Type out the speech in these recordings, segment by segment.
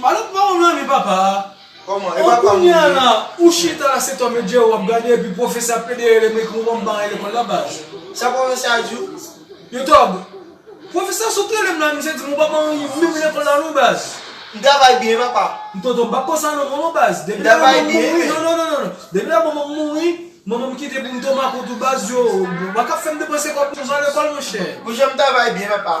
Malouk pa wèm renmen papa a. Oh kounya la ou chita la se Tom et Jerry wap gade epi profesè ap plede rele m ekriw banm bare lekòl la baz. Sa profesè a diw? Yo tòg. Profesè a sot relem la misye dim ou pa ban anyen menm lekòl la non baz. M travay byen papa. M tonton m pap konsa non manman baz depi lè manman m mouri non non non non depi lè manman m mouri manman m kite pou m tonton makòt ou baz yo waka fèm depanse kòb konsa lekòl monchè. Ou janm travay byen papa.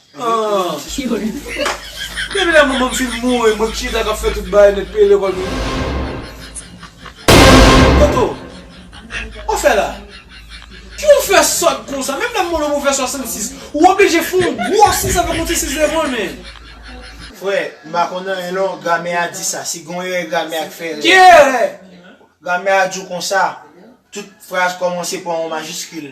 Depi lè manman m fin mouri mwen k chita k ap fè tout bagay nèt peye lekòl moun yo. Toto, wap fè la? Kijan w fè sòt konsa? Menm lè m mouri mwen fè 66, ou oblije fè yon gwo 6 avèk yon ti 6 devan l men. Frè, m pa konn anyen non, gramè a di sa, si gen yon erè gramè a k fè erè. Ki erè? Gramè a di w konsa, tout fraz kòmanse pa yon majiskil.